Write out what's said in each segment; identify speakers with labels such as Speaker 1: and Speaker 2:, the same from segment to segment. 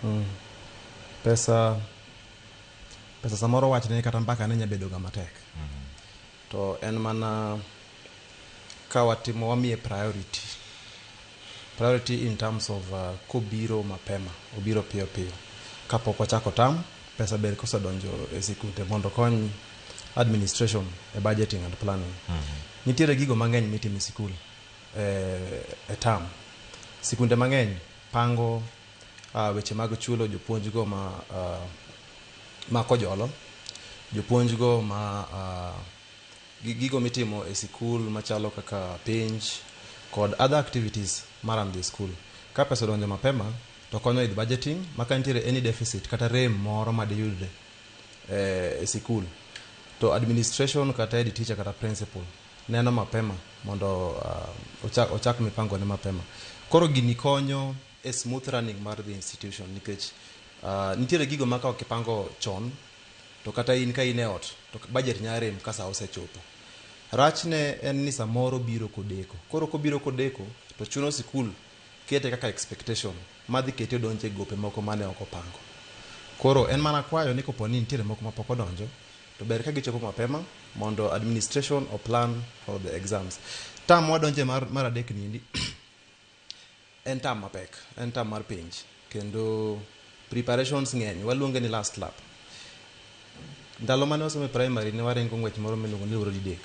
Speaker 1: Mm. Pesa pesa samoro wachne kata mbaka ne nyabedo ga matek. Mm -hmm. To en mana ka watimo wamiye priority. Priority in terms of uh, kobiro mapema, obiro piyo piyo. Kapok wachako tam, pesa ber kosedonjo e sikunde mondo kony administration e budgeting and planning. Mm -hmm. Nitiere gigo mang'eny mitimo e sikul e, e tam. Sikunde mang'eny pango weche mag chulo jopuonjgo ma ma kojolo, jopuonjgo ma gi gigo mitimo e sikul machalo kaka penj kod other activities ma run the school. Ka pesa odonjo mapema to konyo with budgeting ma ka nitiere any deficit kata rem moro ma diyudre e sikul to administration kata head teacher kata principal neno mapema mondo ochak mipangone mapema. Koro gini konyo e smooth running mar the institution nikech uh, nitiere gigo ma ka ok ipango chon to kata in ka in e ot to budget nya rem ka sa osechopo rachne en ni samoro biro kodeko koro kobiro kodeko to chuno sikul kete kaka expectation madhi kete odonje gope moko mane ok opango koro en mana kwayo ni kopo ni nitiere moko mapok odonjo to ber ka gichopo mapema mondo administration o plan for the exams tam wadonje mar, mar adek niendi En term mapek, en term mar penj kendo preparations ng'eny, waluonge ni last lap. Ndalo mane wasomo e primary ne waringo ng'wech moro miluongo ni luoro didek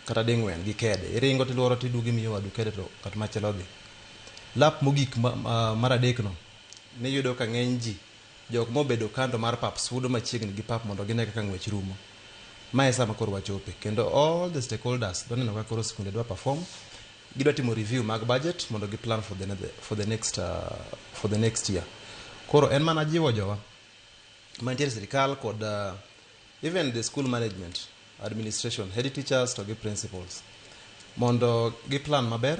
Speaker 1: kata ding'wen gi kede. Iringo tiluoro tiduogo imiyo wadu kede to ng'at machielo dhi. Lap mogik mar adekno niyudo ka ng'eny ji Jok mobedo kando mar pap sudo machiegni gi pap mondo gine kaka ng'wech rumo. Ma e saa makoro wachope kendo all the stakeholders dwa neno kaka koro skunde dwa perform, gidwa timo review mag budget mondo gi plan for the, for the next, uh, for the next year. Koro en mana jiwo jowa mantiere sirikal kod uh, even the school management, administration, head teachers to gi principals mondo gi plan maber